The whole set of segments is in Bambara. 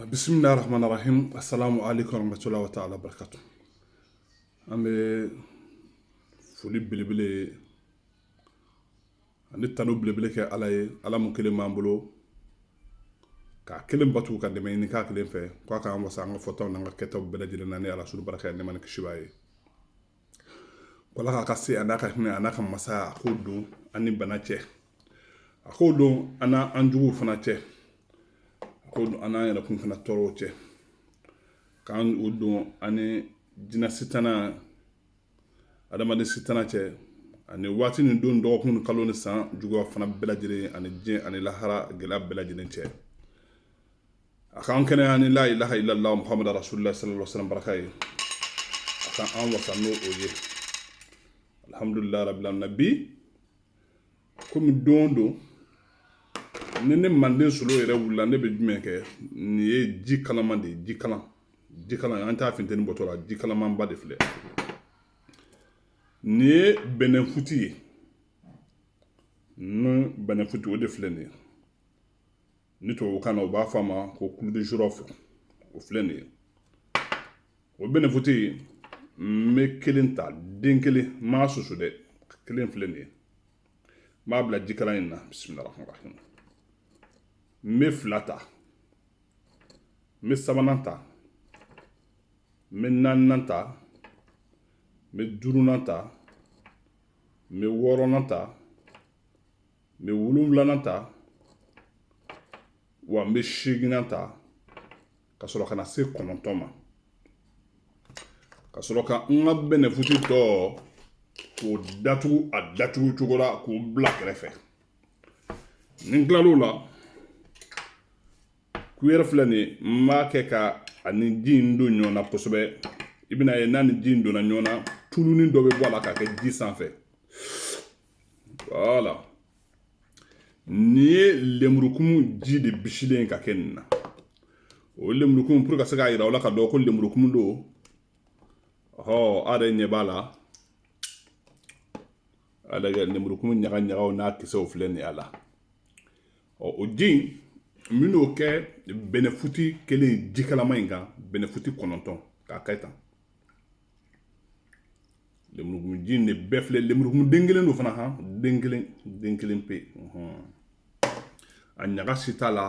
bisimilah rahman rahim asalaamu alaykum wa rahmatulahi wa ta'ala wa barakatu an bɛ foli belebele ani tanu belebele kɛ ala ye ala mun kelen b'an bolo k'a kelen batu ka dɛmɛ ɲini k'a kelen fɛ k'a k'an wasa an ka fɔtaw n'an ka kɛtaw bɛɛ lajɛlen na ni arasulu barika ye nɛɛma ni kisi b'a ye wa ala k'a ka se a n'a ka hinɛ a n'a ka masaya a k'o don an ni bana cɛ a k'o don an n'an juguw fana cɛ a k'o don an n'an yɛrɛkun fana tɔɔrɔw cɛ ka n'o don an ni jinɛ sitana adamaden sitana cɛ ani waati ni don dɔgɔkun ni kalo ni san juguya fana bɛɛ lajɛlen ani diɲɛ ani lahara gɛlɛya bɛɛ lajɛlen cɛ a k'an kɛnɛya ni la ilaha illallah muhammad rasulullah sallallahu alaihi wasallam baraka ye a ka an wasa n'o o ye alhamdulillah rabbil alamin bi komi don o don ni ne manden solo yɛrɛ wulila ne bɛ jumɛn kɛ nin ye ji kalaman de ye ji kalan ji kalan an t'a finteni bɔtɔ la ji kalamanba de filɛ nin ye bɛnɛfuti ye ni bɛnɛfuti o de filɛ nin ye ni tubabukan na u b'a fɔ a ma ko clou de girofle o filɛ nin ye o bɛnɛfuti n bɛ kelen ta den kelen n m'a susu dɛ kelen filɛ nin ye n b'a bila ji kalan in na bisimila rahman rahim n bɛ fila ta n bɛ sabanan ta n bɛ naaninan ta n bɛ duurunan ta n bɛ wɔɔrɔnan ta n bɛ wolonwulanan ta wa n bɛ seeginnan ta ka sɔrɔ ka na se kɔnɔntɔn ma ka sɔrɔ ka n ka bɛnɛfuti tɔ k'o datugu a datugu cogo la k'o bila kɛrɛfɛ ni n tilal'o la kuyɛri filɛ nin n b'a kɛ k'a ni ji in don ɲɔgɔn na kosɛbɛ i bɛn'a ye n'a ni ji in donna ɲɔgɔn na tulunin dɔ bɛ bɔ a la ka kɛ ji sanfɛ voilà nin ye lemurukumu ji de bisilen ka kɛ nin na o lemurukumu pour ka se k'a yira aw la k'a dɔn ko lemurukumu don ɔ a yɛrɛ ɲɛ b'a la a lajɛ lemurukumu ɲagaɲagaw n'a kisɛw filɛ nin ye a la ɔ o ji in n bɛn'o kɛ bɛnɛfuti kelen ji kalaman in kan bɛnɛfuti kɔnɔntɔn k'a kɛ tan lemurukumunji in de bɛɛ filɛ lemurukumun den kelen don fana han den kelen den kelen pe a ɲaga si t'a la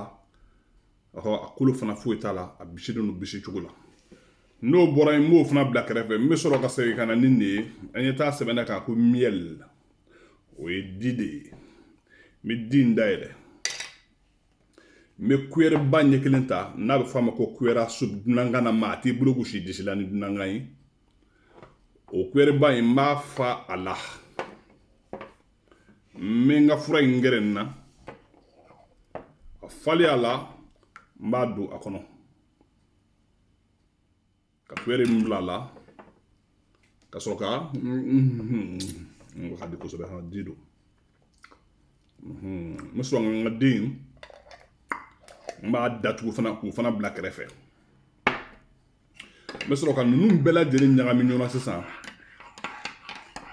a kolo fana foyi t'a la a bisilen don bisi cogo la n'o bɔra yen n b'o fana bila kɛrɛfɛ n bɛ sɔrɔ ka segin ka na ni nin ye an ye taa sɛbɛn a kan ko miel o ye di de ye n bɛ di in dayɛlɛ n bɛ kuyɛrɛba ɲɛ kelen ta n'a bɛ f'a ma ko cuillère à soupe dunankan na maa t'i bolo gosi disi la ni dunankan ye o kuyɛrɛba in n b'a fa a la n bɛ n ka fura in gɛrɛ n na a falen a la n b'a don a kɔnɔ ka kuyɛri in bila a la ka sɔrɔ ka n ka di kosɛbɛ ka di don n bɛ sɔrɔ n ka di in n b'a datugu fana k'o fana bila kɛrɛfɛ n bɛ sɔrɔ ka ninnu bɛɛ lajɛlen ɲagami ɲɔgɔn na sisan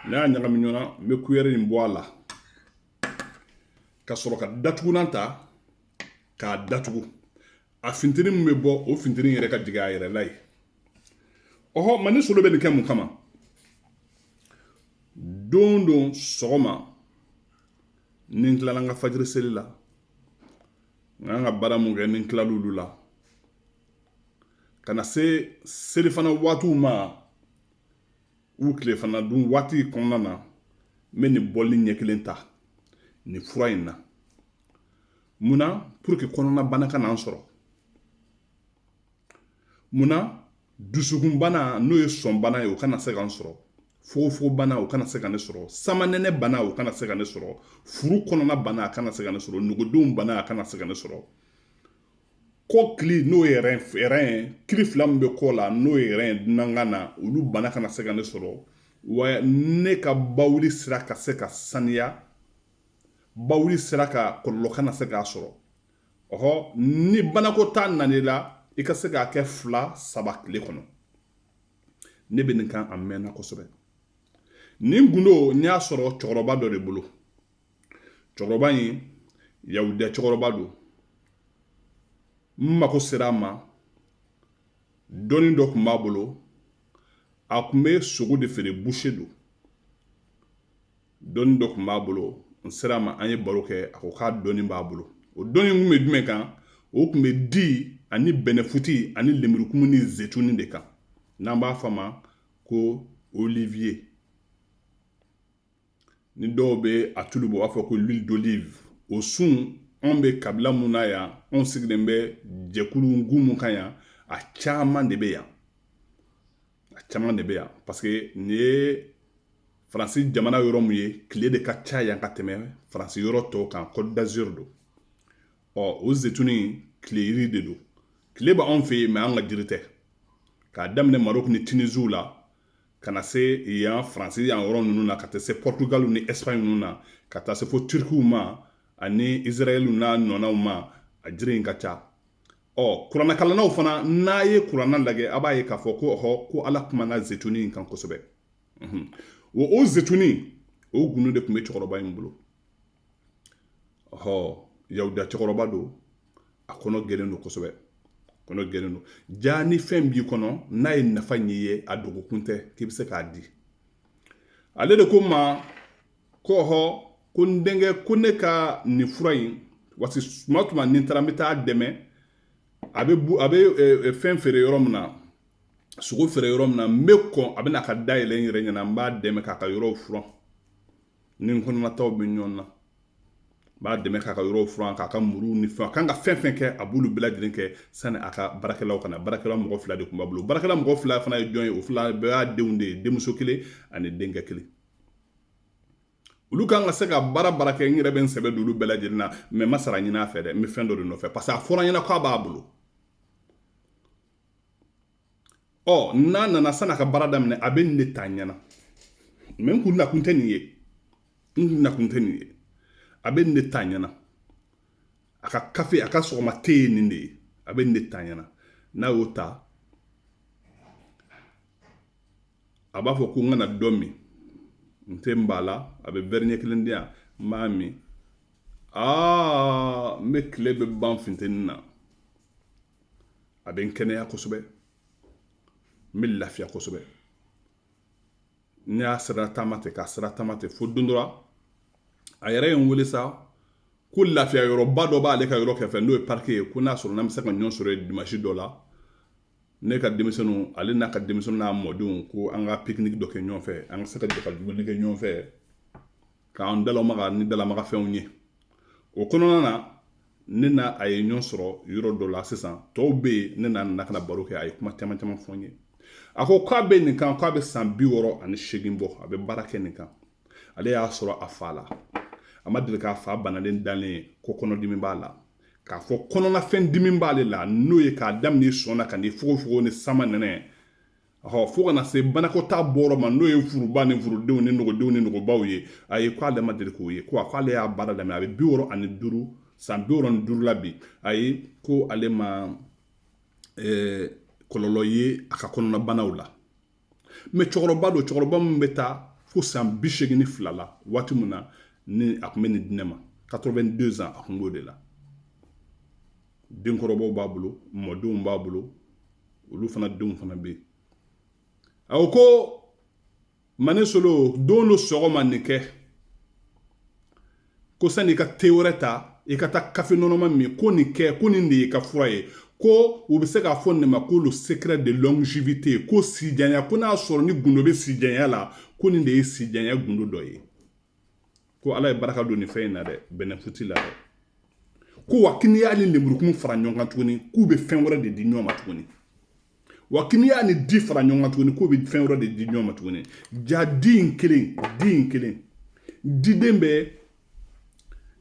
n'a y'a ɲagami ɲɔgɔn na n bɛ kuyɛri in bɔ a la ka sɔrɔ ka datugunan ta k'a datugu a fintiri min bɛ bɔ o fintiri yɛrɛ ka jigin a yɛrɛ la yen ɔhɔ ma ne solo bɛ nin kɛ mun kama don don sɔgɔma ni n tilala n ka fajiri seli la n ka kan ka baara min kɛ ni n tilala olu la ka na se selifana waatiw ma u tilefana dun waati kɔnɔna na n bɛ nin bɔli ɲɛ kelen ta nin fura in na mun na pour que kɔnɔnabana kan'an sɔrɔ mun na dusukunbana n'o ye sɔnbana ye o kana se k'an sɔrɔ fogofogobana o kana se ka ne sɔrɔ samanɛnɛ bana o kana se ka ne sɔrɔ furu kɔnɔna bana a kana se ka ne sɔrɔ nugudenw bana a kana se ka ne sɔrɔ kɔkili n'o ye les reins ye kili fila min bɛ kɔ la n'o ye rein ye dunankan na olu bana kana se ka ne sɔrɔ wa ne ka bawuli sira ka se ka saniya bawuli sira ka kɔlɔlɔ kana se k'a sɔrɔ ɔhɔ ni banakɔtaa nan'i la i ka se k'a kɛ fila saba tile kɔnɔ ne bɛ nin kan a mɛnna kosɛbɛ nin gundo n y'a sɔrɔ cɛkɔrɔba dɔ de bolo cɛkɔrɔba in yahudiya cɛkɔrɔba don n mako sera a ma dɔnni dɔ tun b'a bolo a tun bɛ sogo de feere buse don dɔnni dɔ tun b'a bolo n sera a ma an ye baro kɛ a ko k'a dɔnni b'a bolo o dɔnni tun bɛ jumɛn kan o tun bɛ di ani bɛnɛfuti ani lemurukumu ni zetuni de kan n'an b'a fɔ a ma ko olivier ni dɔw bɛ a tulu bɔ u b'a fɔ ko l'huile d'olive o sun anw bɛ kabila mun na yan anw sigilen bɛ jɛkulu gun mun kan yan a caman de bɛ yan a caman de bɛ yan parce que nin ye faransi jamana yɔrɔ mun ye tile de ka ca yan ka tɛmɛ faransi yɔrɔ tɔw kan Côte d'Azur don ɔ o zetuni tile yiri de don tile b'anw fɛ yen mɛ an ka jiri tɛ k'a daminɛ Maroc ni Tunisie la ka na se yan faransi yan yɔrɔ ninnu na ka taa se Portugal ni Espagne ninnu na ka taa se fo turukiw ma ani israɛl n'a ɲɔgɔnnaw ma a jiri in ka ca ɔ kuranɛkalannaw fana n'a ye kuranɛ lajɛ a b'a ye k'a fɔ ko ɔhɔ ko ala kumana zetuni in kan kosɛbɛ ɔ o zetuni o gundo de tun bɛ cɛkɔrɔba in bolo ɔhɔ yahudiya cɛkɔrɔba don a kɔnɔ gɛlɛn don kosɛbɛ kɔnɔ gɛlɛn don jaa ni fɛn b'i kɔnɔ n'a ye nafa ɲɛ ye a dogokun tɛ k'i bɛ se k'a di ale de ko n ma ko ɔhɔ ko n denkɛ ko ne ka nin fura in parce que tuma o tuma ni n taara n bɛ taa dɛmɛ a bɛ a bɛ eh, eh, fɛn feere yɔrɔ min na sogo feere yɔrɔ min na n bɛ kɔn a bɛ na ka da yɛlɛ n yɛrɛ ɲɛna n b'a dɛmɛ k'a ka yɔrɔw furan ni n kɔnɔnataw bɛ ɲɔgɔn na n b'a dɛmɛ k'a ka yɔrɔ furan k'a ka muru ni fɛn a kan ka fɛn fɛn kɛ a b'olu bɛɛ lajɛlen kɛ sani a ka baarakɛlaw ka na baarakɛla mɔgɔ fila de tun b'a bolo baarakɛla mɔgɔ fila fana ye jɔn ye o fila bɛɛ y'a denw de ye denmuso kelen ani denkɛ kelen olu kan ka se ka baara baara kɛ n yɛrɛ bɛ n sɛbɛ don olu bɛɛ lajɛlen na mɛ n ma sara ɲini a fɛ dɛ n bɛ fɛn dɔ de nɔfɛ parce que a fɔra n ɲɛna k'a b'a bolo ɔ n'a nana sani a ka baara daminɛ a bɛ nin de ta n ɲɛna mɛ n kun nakun tɛ nin ye n kun nakun tɛ nin ye a bɛ nin de ta n ɲɛna a ka kafe a ka sɔgɔma te ye nin de ye a bɛ nin de ta n ɲɛna n'a y'o ta a b'a fɔ ko n ka na dɔ min n tɛ n ban a la a bɛ wɛri ɲɛ kelen di yan n b'a min aa n bɛ tile bɛɛ ban funteni na a bɛ n kɛnɛya kosɛbɛ n bɛ lafiya kosɛbɛ ne y'a sira taama ten k'a sira taama ten fo don dɔ la a yɛrɛ ye n wele sa ko lafiya yɔrɔba dɔ b'ale ka yɔrɔ kɛrɛfɛ n'o ye parike ye ko n'a sɔrɔ n'an bɛ se ka ɲɔgɔn sɔrɔ yen dimansi dɔ la ne ka denmisɛnninw ale n'a ka denmisɛnninw n'a mɔdenw ko an ka pikiniki dɔ kɛ ɲɔgɔn fɛ an ka se ka jɛ ka dumuni kɛ ɲɔgɔn fɛ k'an dalamaga ni dalamagafɛnw ye o kɔnɔna na ne n'a ye ɲɔgɔn sɔrɔ yɔrɔ dɔ la sisan tɔw bɛ yen ne n'a nana ka na baro kɛ a ye kuma caman caman fɔ n ye a ko k'a bɛ nin kan k'a bɛ san bi wɔɔrɔ ani seegin bɔ a bɛ baara kɛ nin kan ale y'a sɔrɔ a fa la a ma deli k'a fa banalen dalen ye ko kɔnɔdimi b'a la k'a fɔ kɔnɔnafɛn dimi b'ale la n'o ye k'a daminɛ i sɔn na ka n'i fogofogo ni samanɛnɛ ɔ fo ka na se banakɔtaa bɔrɔ ma n'o ye furuba ni furudenw ni nogodenw ni nogobaw ye a ye ko ale ma deli k'o ye ko a ko ale y'a baara daminɛ a bɛ bi wɔɔrɔ ani duuru san bi wɔɔrɔ ni duuru la bi a ye ko ale ma eh, kɔlɔlɔ ye a ka kɔnɔnabanaw la mɛ cɛkɔrɔba don cɛkɔrɔba min bɛ taa fo san bi seegin ni fila la waati min na ni a tun bɛ nin di ne ma 82 ans a tun b'o de la denkɔrɔbaw b'a bolo mɔdenw b'a bolo olu fana denw fana bɛ yen a ko ko mane solo don dɔ sɔgɔma nin kɛ ko sani i ka te wɛrɛ ta i ka taa kafe nɔnɔma min ko nin kɛ ko nin de y'i ka fura ye ko u bɛ se k'a fɔ nin ma ko le secret de longévité ko sijanya ko n'a sɔrɔ ni gundo bɛ sijanya la ko nin de ye sijanya gundo dɔ ye ko ala ye baraka don nin fɛn in na dɛ bɛnɛfuti la dɛ ko wa ko n'i y'a ni lemurukumu fara ɲɔgɔn kan tuguni k'u bɛ fɛn wɛrɛ de di ɲɔgɔn ma tuguni wa ko n'i y'a ni di fara ɲɔgɔn kan tuguni k'u bɛ fɛn wɛrɛ de di ɲɔgɔn ma tuguni jaa di in kelen di in kelen diden bɛ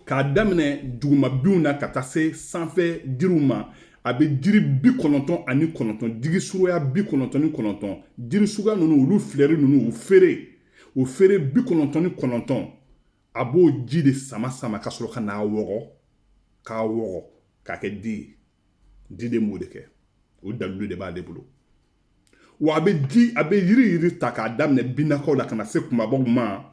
k'a daminɛ dugumabinw na ka taa se sanfɛ jiriw ma a bɛ jiri bi kɔnɔntɔn ani kɔnɔntɔn jiri suguya bi kɔnɔntɔn ni kɔnɔntɔn jiri suguya ninnu olu filɛri ninnu u feere o feere bi kɔnɔntɔn ni kɔnɔntɔn a b'o ji de sama sama ka sɔrɔ ka n'a wɔgɔ k'a wɔgɔ k'a kɛ di ye diden b'o de kɛ o dalilu de b'ale bolo wa a bɛ di a bɛ yiri yiri ta k'a daminɛ binnakaw la ka na se kunbabaw ma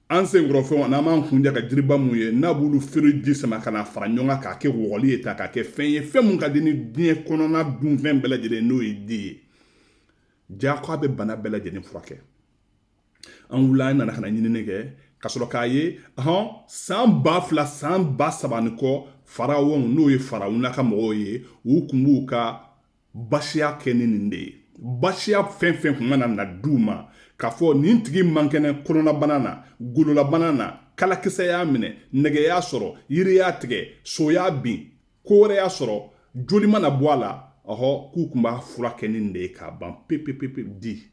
an senkɔrɔfɛnw n'an b'an kunjɛ ka jiriba mun ye n'a b'olu feere ji sama ka na fara ɲɔgɔn kan k'a kɛ wɔgɔli ye ta k'a kɛ fɛn ye fɛn mun ka di ni diɲɛ kɔnɔna dunfɛn bɛɛ lajɛlen n'o ye di ye jaa ko a bɛ bana bɛɛ lajɛlen furakɛ an wula an nana ka na ɲinini kɛ ka sɔrɔ k'a ye hɔn san ba fila san ba saba ni kɔ farawɔnw n'o ye farawuna ka mɔgɔw ye u kun b'u ka basiya kɛ ni nin de ye basiya fɛn fɛn kun mana na d'u ma k'a fɔ nin tigi man kɛnɛ kɔnɔnabana na gololabana na kalakisɛ y'a minɛ nɛgɛ y'a sɔrɔ yiri y'a tigɛ so y'a bin ko wɛrɛ y'a sɔrɔ joli mana bɔ a la ɔhɔ k'u tun b'a furakɛ ni nin de ye k'a ban pepepepe di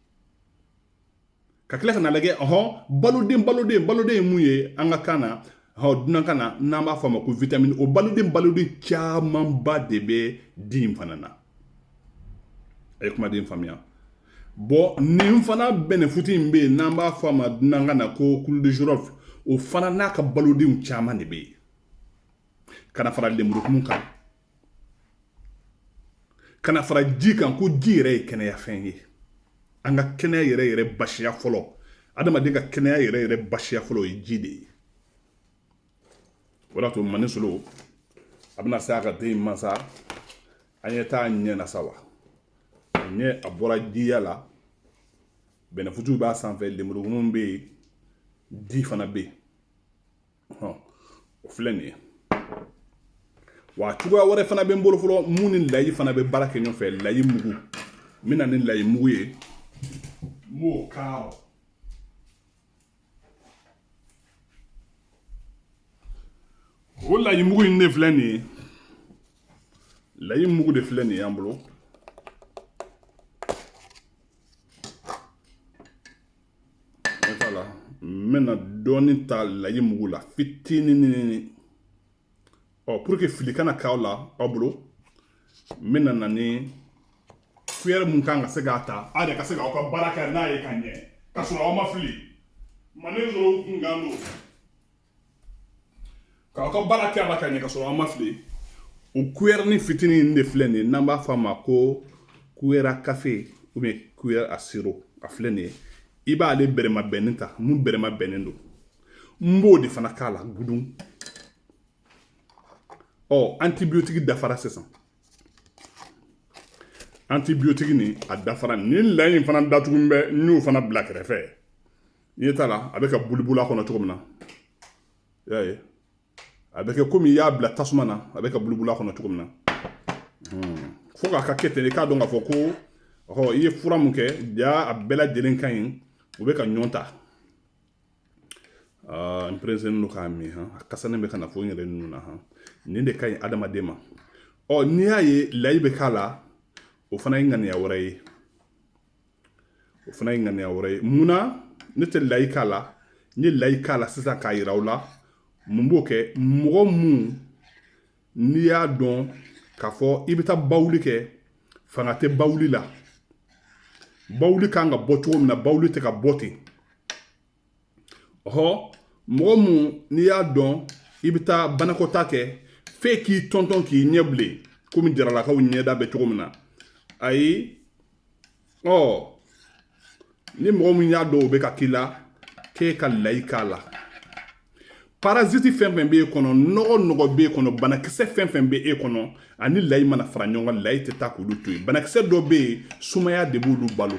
ka tila ka n'a lajɛ ɔhɔ baloden baloden baloden ye mun ye an ka kan na ɔ dunankan na n'an b'a fɔ a ma ko vitamini o baloden baloden camanba de bɛ di in fana na a ye kumaden faamuya bon nin fana bɛnɛfuti in bɛ yen n'an b'a fɔ a ma dunankan na ko clou de girofle o fana n'a ka balodenw caman de bɛ yen ka na fara lemurukumu kan ka na fara ji kan ko ji yɛrɛ ye kɛnɛyafɛn ye an ka kɛnɛya yɛrɛ yɛrɛ basiya fɔlɔ adamaden ka kɛnɛya yɛrɛ yɛrɛ basiya fɔlɔ o ye ji de ye o de y'a to mani solo a bɛna se a ka den mansa an ye taa ɲɛ na sa wa a ɲɛ a bɔra jiya la bɛnɛfuntiw b'a sanfɛ lemurukumu bɛ yen di fana bɛ yen o filɛ nin ye wa cogoya wɛrɛ fana bɛ n bolo fɔlɔ mun ni layi fana bɛ baara kɛ ɲɔgɔn fɛ layi mugu n bɛ na ni layi mugu ye n b'o k'a o layi mugu in de filɛ nin ye layi mugu de filɛ nin ye an bolo voilà n bɛna dɔɔni ta layi mugu la fitinin ɔ pour que fili kana k'aw la aw bolo n bɛna na ni kuyɛri mun kan ka se k'a ta aw yɛrɛ ka se k'aw ka baara kɛ n'a ye ka ɲɛ ka sɔrɔ aw ma fili manden dɔw kunkan don k'aw ka baara kɛ a la ka ɲɛ ka sɔrɔ aw ma fili o kuyɛrini fitinin in de filɛ nin ye n'an b'a fɔ a ma ko kuyɛri à café ou bien kuyɛri à sirop a filɛ nin ye i b'ale bɛrɛma bɛnnen ta mun bɛrɛma bɛnnen don n b'o de fana k'a la gudun ɔ antibiyotiki dafara sisan antibiyotiki nin a dafara nin layi in fana datugu bɛ n y'o fana bila kɛrɛfɛ i ɲɛ t'a la a bɛ ka bulibula a kɔnɔ cogo min na i y'a ye a bɛ kɛ komi i y'a bila tasuma na a bɛ ka bulibula a kɔnɔ cogo min na hmm. fo k'a ka kɛ ten i k'a dɔn k'a fɔ ko ɔ i ye fura mun kɛ ja a bɛɛ lajɛlen ka ɲi u bɛ ka ɲɔn ta ah, n pereselen don k'a min han a kasa nin bɛ ka na fo n yɛrɛ nun na han nin de ka ɲi adamaden ma ɔ n'i y'a ye layi bɛ k'a la o fana ye ŋaniya wɛrɛ ye o fana ye ŋaniya wɛrɛ ye munna ne tɛ layi k'a la n ye layi k'a la sisan k'a yira aw la mun b'o kɛ mɔgɔ mun n'i y'a dɔn k'a fɔ i bɛ taa bawuli kɛ fanga tɛ bawuli la bawuli kan ka bɔ cogo min na bawuli tɛ ka bɔ ten ɔhɔ mɔgɔ mun n'i y'a dɔn i bɛ taa banakɔtaa kɛ f'e k'i tɔntɔn k'i ɲɛ bilen komi jaralakaw ɲɛda bɛ cogo min na ayi ɔ ni mɔgɔ min y'a dɔn o bɛ ka k'i la k'e ka layi k'a la paraziti fɛn fɛn b'e kɔnɔ nɔgɔ nɔgɔ b'e kɔnɔ banakisɛ fɛn fɛn bɛ e kɔnɔ a ni layi mana fara ɲɔgɔn kan layi tɛ taa k'olu to yen banakisɛ dɔ bɛ yen sumaya de b'olu balo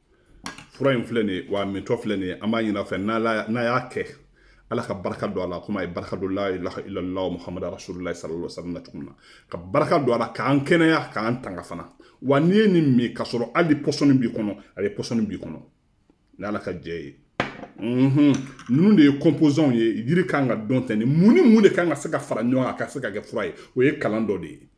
fura in filɛ nin ye wa mintɔ filɛ nin ye an b'a ɲini a fɛ n'a y'a kɛ ala ka barika don a la komi a ye barika don la ilaha illallah muhammadu rasulullah sallallahu alaihi wasallam cogo min na ka barika don a la k'an kɛnɛya k'an tanga fana wa n'i ye nin min k'a sɔrɔ hali pɔsɔni b'i kɔnɔ a bɛ pɔsɔni b'i kɔnɔ ni ala ka jɛ ye mhm. ninnu de ye composants ye yiri kan k'a dɔn ten mun ni mun de kan ka se ka fara ɲɔgɔn kan a ka se ka kɛ fura ye o ye kalan dɔ de ye